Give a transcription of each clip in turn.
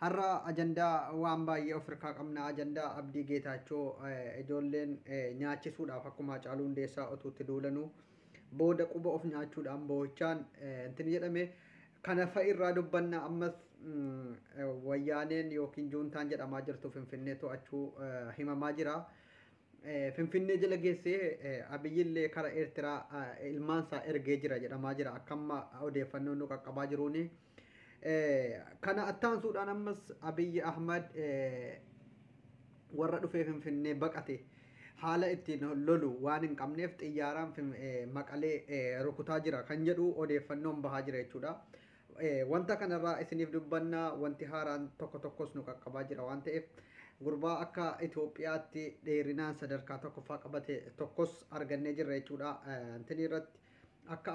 Har'a ajandaa waan baay'ee of irkaa qabna. Ajandaa Abdii Geetaachoo ijoolleen nyaachisuudhaaf akkuma Hacaaluu Hundeessaa otuu itti duulanuu booda quba of nyaachuudhaan boo'ichaan intini jedhame kana fa'i irraa dubbanna ammas wayyaaneen yookiin juuntaan jedhamaa jirtu Finfinnee to'achuu himamaa jira. Finfinnee jala geessee Abiyyillee kara Eertiraa ilmaansaa ergee jira jedhamaa jira akkamma odeeffannoon nu qaqqabaa jiruuni. Kana attaansuudhaan ammas Abiyyi Ahmad warra dhufee Finfinnee baqate haala ittiin lolu waan hin qabneef xiyyaaraan maqalee rukutaa jira kan jedhu odeeffannoon bahaa jira jechuudha. Wanta kanarraa isiniif dubbanna wanti haaraan tokko tokkos nu qaqqabaa jira waan ta'eef gurbaa akka Itoophiyaatti dheerinaan sadarkaa tokkoffaa qabate tokkos argannee jirra jechuudha. Intinii irratti akka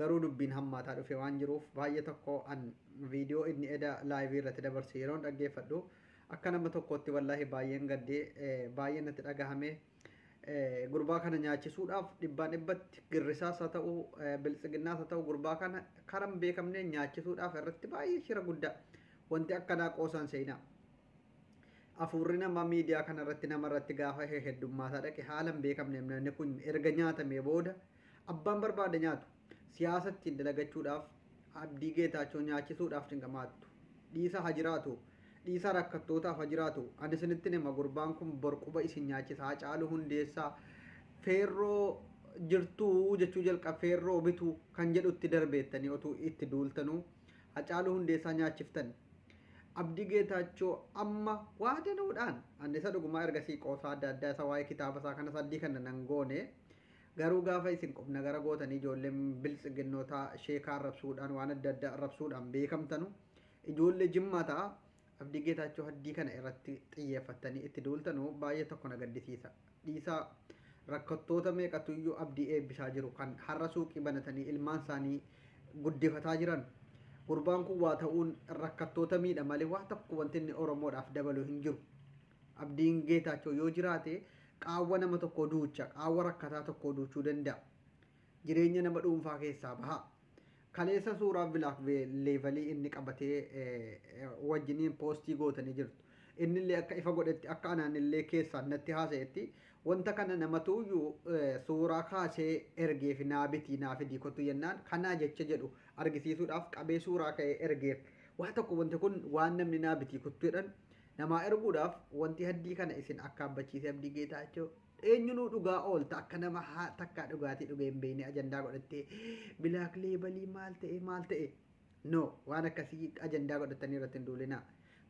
Garuu dubbiin hammaataa dhufee waan jiruuf baay'ee tokko an viidiyoo inni eda laayivii irratti dabarse yeroon dhaggeeffadhu akka nama tokkootti wallaahi baay'een gaddee baay'ee natti dhagahame gurbaa kana nyaachisuudhaaf dhibbaan dhibbatti girrisaas haa ta'u biltsiginnaas haa ta'u gurbaa kana karan beekamne nyaachisuudhaaf irratti baay'ee shira guddaa wanti akkanaa qoosaan seenaa afuurri nama miidiyaa kana irratti nama irratti gaafa heddummaataa dhaqe haalan beekamne namni kun erga nyaatamee booda Abbaan barbaade nyaatu. Siyaasa ittiin dalagachuudhaaf Abdii Geetaachoo nyaachisuudhaaf cinqamaattu. Dhiisaa ha jiraatu. Dhiisaa rakkattootaaf ha jiraatu. Ani isinittin hima gurbaan kun bor quba isin nyaachisa. Hacaaluu Hundeessaa feerroo jirtuu jechuu jalqab feerroo bitu kan jedhutti darbeettanii otuu itti duultanuu Hacaaluu Hundeessaa nyaachiftan. Abdii Geetaachoo amma waa danuudhaan ani isa dhugumaa ergasii qoosaa adda addaa isa waa'ee kitaaba isaa kana saddii kana nan goone Garuu gaafa isin qubnagara gootanii ijoollee biltsiginnootaa sheekaa arrabsuudhaan waan adda addaa arrabsuudhaan beekamtanu ijoollee jimmaa ta'a abdii geetaachoo haddii kana irratti xiyyeeffattanii itti duultanu baay'ee tokko na gaddisiisa dhiisaa rakkattoota meeqatu iyyuu abdii eebbisaa jiru kan har'a suuqii banatanii ilmaan isaanii guddifataa jiran gurbaan kun waa ta'uun rakkattoota miidha malee waa tokko wanti inni oromoodhaaf dabalu hin jiru Abdiin Geetaachoo yoo jiraate qaawwa nama tokkoo duucha, qaawwa rakkataa tokkoo duuchuu danda'a. Jireenya nama dhuunfaa keessaa baha. Kaleessa suuraa Vilaak Leevalii inni qabatee wajjiniin poostii gootanii jirtu. Innillee akka ifa godhetti akka anaanillee keessaan natti haasa'etti wanta kana namatuuyyuu suuraa kaasee ergeef naa bitii naa fidii kottu jennaan kanaa jecha jedhu argisiisuudhaaf qabee suuraa ka'ee ergeef. Waa tokko wanti kun waan namni naa bitii kottu jedhan Namaa erguudhaaf wanti haddii kana isin akkaabbachiise Abdii Geetaachoo eenyunuu dhugaa oolta akka nama haa takkaa dhugaatii dhugee hin beekne ajandaa godhattee bilaak leebalii maal ta'e maal ta'e no waan akkasii ajandaa godhattanii irratti hin duulinaa.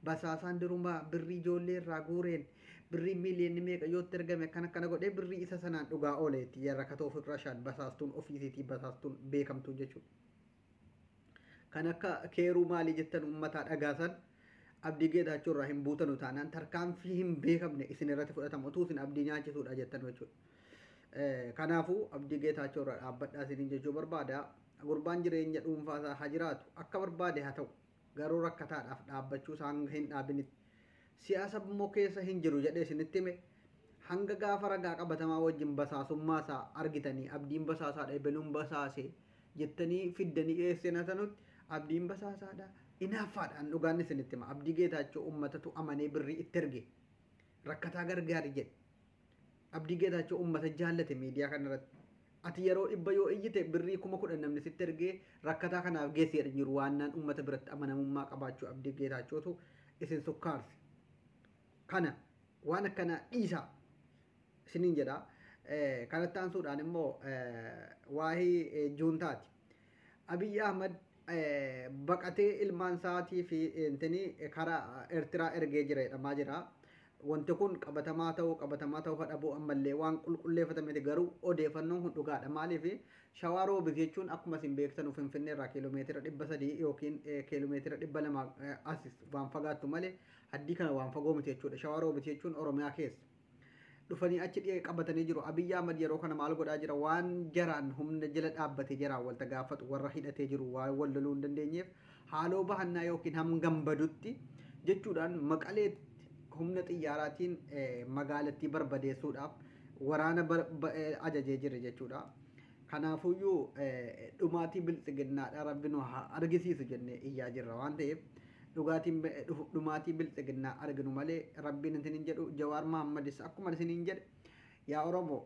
Basaasaan durumaa birrii ijoollee irraa guureen birrii miiliyoonni meeqa yoo itti ergame akkana akkana godhee birrii isa sanaan dhugaa ooleetti yarrakatoo firrashaan basaastuun ofiisiitii basaastuun beekamtuu jechuudha. kan akka keeruu maalii jettan uummataa dhagaasan abdii geetaachoo irraa hin buutanu taanaan tarkaanfii hin beekamne isin irratti fudhatamu utuu isin abdii nyaachisuudha jettan jechuudha. Kanaafuu abdii geetaachoo irraa dhaabbadhaa isiniin jechuu barbaada. Gurbaan jireenya dhuunfaa isaa haa jiraatu akka barbaade haa ta'u. garuu rakkataadhaaf dhaabbachuu isaa hanga hin dhaabinitti siyaasa immoo keessa hin jiru jedhee isinitti hime hanga gaafa ragaa qabatamaa wajjin basaasummaa isaa argitanii abdiin basaasaadha ebeluun basaase jettanii fiddanii dhiyeessina sanutti abdiin basaasaadha inaaffaadhaan dhugaan isinitti hima abdii geetaachoo ummatatu amanee birrii itti erge rakkataa gargaari jedhe Abdii Geetaachoo ummata jaallate miidiyaa kanarratti ati yeroo dhibba yoo iyyite birrii kuma kudhan namni sitti ergee rakkataa kanaaf geessi jedhan jiru waannaan ummata biratti amanamummaa qabaachuu Abdii Geetaachootu isin sukkaarse. Kana waan akkanaa dhiisaa isiniin jedha. Kanatti aansuudhaan immoo waa'ee juuntaati. Abiy Ahmad baqatee ilmaan isaatii fi intini kara Ertiraa ergee jira jedhamaa jira. Wanti kun qabatamaa ta'uu qabatamaa ta'uu dhabuu ammallee waan qulqulleeffatan miti garuu odeeffannoon kun dhugaadha. Maaliif shawaa roobiit jechuun akkuma isin beektanu Finfinnee irraa kiiloomeetira dhibba sadii yookiin kiiloomeetira dhibba lama as waan fagaattu malee haddii kana waan fagoo miti jechuudha. Shawaa roobiit jechuun Oromiyaa keessa. dhufanii achi dhiya qabatanii jiru. Abiyyi Ahmad yeroo kana maal godhaa jira? Waan jaraan humna jala dhaabbate jaraan walta gaafatu warra hidhatee jiru waan wal loluu hin dandeenyeef haaloo bahannaa yookiin hangam badutti jechuudhaan maqaleetti humna xiyyaaraatiin magaalattii barbadeessuudhaaf waraana ajajee jira jechuudha. Kanaafuyyuu dhumaatii biltsiginnaadha rabbi nu haa argisiisu jennee iyyaa jirra waan ta'eef Dhugaatiin dhumaatii bilxiginnaa arginu malee rabbiin isin hin jedhu jawaar mahammadis akkuma isiniin jedhe yaa oromo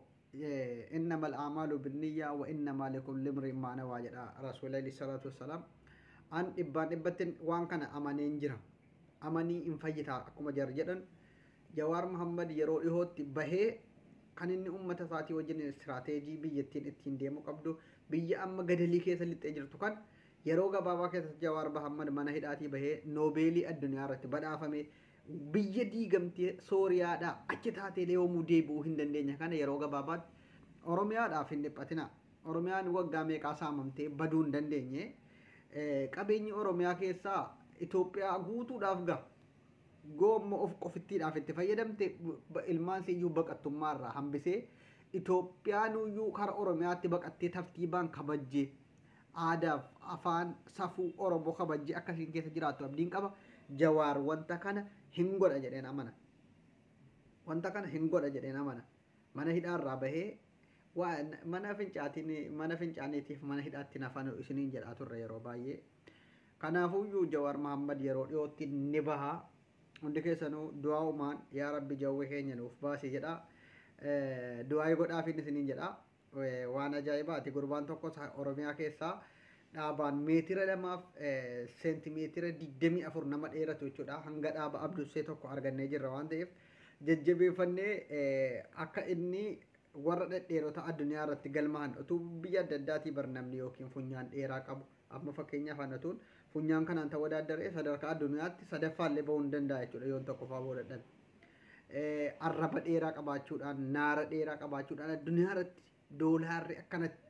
innamal aamaalu binniyyaa wa innamaa likulli imri'in maa nawaa jedha rasuuli alayhi salaatu wassalaam an dhibbaan dhibbattin waan kana amaneen jira amanii hin fayyitaa akkuma jar jedhan jawaar mahammad yeroo dhihootti bahee kan inni ummata isaatii wajjin istiraateejii biyyattiin ittiin deemuu qabdu biyya amma gadalii keessa lixxee jirtu kan Yeroo gabaabaa keessatti Jawaar Bahammad mana hidhaatii bahee Noobeelii addunyaa irratti badhaafame biyya diigamtee Sooriyaadhaa achi taateelee yoomuu deebi'uu hin dandeenye kana yeroo gabaabaatti Oromiyaadhaaf hin dhiphatinaa. Oromiyaan waggaa meeqaa saamamtee baduu hin dandeenye. Qabeenyi Oromiyaa keessaa Itoophiyaa guutuudhaaf gaha. Goomma of qofittiidhaaf itti fayyadamte ilmaan siiyyuu baqattummaa irraa hambisee Itoophiyaanuyyuu kara Oromiyaatti baqattee tartiibaan kabajjee Aadaaf afaan safuu oromo kabajji akka isiin keessa jiraattu abdiin qaba. Jawaar wanta kana hin godha jedheen amana. Wanta kana hin godha jedheen amana. Mana hidhaa irraa bahee waa mana fincaatiin mana fincaaniitiif mana hidhaatti nafanu isiniin jedhaa turre yeroo baay'ee. Kanaafuyyuu Jawaar Mahammad yeroo dhiyootti ni baha. Hundi keessanuu du'aa umaan yaa rabbi jawwee keenya nuuf baasi jedha. Du'aayii godhaafiin isiniin jedha. Waan ajaa'ibaati gurbaan tokko Oromiyaa keessaa dhaabaan meetira lamaaf seentimeetira 24 nama dheeratu jechuudha. Hanga dhaaba abdussee tokko argannee jirra waan ta'eef jajjabeeffannee akka inni warra dhedheerota addunyaa irratti galmaa'an utuu biyya adda addaatii bar namni yookiin funyaan dheeraa qabu Amma fakkeenyaaf an otuun funyaan kanaan tawadaaddare sadarkaa addunyaatti sadaffaa illee bahuu hin danda'a jechuudha yoon tokkoffaa bahuu dadhabe. Arraba dheeraa qabaachuudhaan naara dheeraa qabaachuudhaan addunyaa irratti doolaarri akkanatti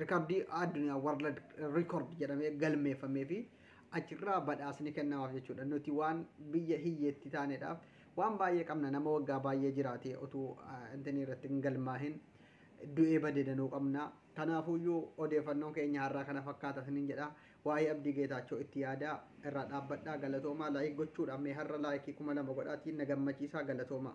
rikardii addunyaa warlad rikord jedhamee galmeeffamee fi achirraa badhaasni kennamaaf jechuudha. Nuti waan biyya hiyyeetti taaneedhaaf waan baay'ee qabna nama waggaa baay'ee jiraatee otuu intinii irratti hin galmaahin du'ee badee danuu qabna. Kanaafuyyuu odeefannoon keenya harraa kana fakkaata isiniin jedha. Waa'ee Abdii Geetaachoo itti yaadaa, irraa dhaabbadhaa, galatoomaa, like gochuudhaan mee harra like 2000 godhaatii na gammachiisaa galatoomaa.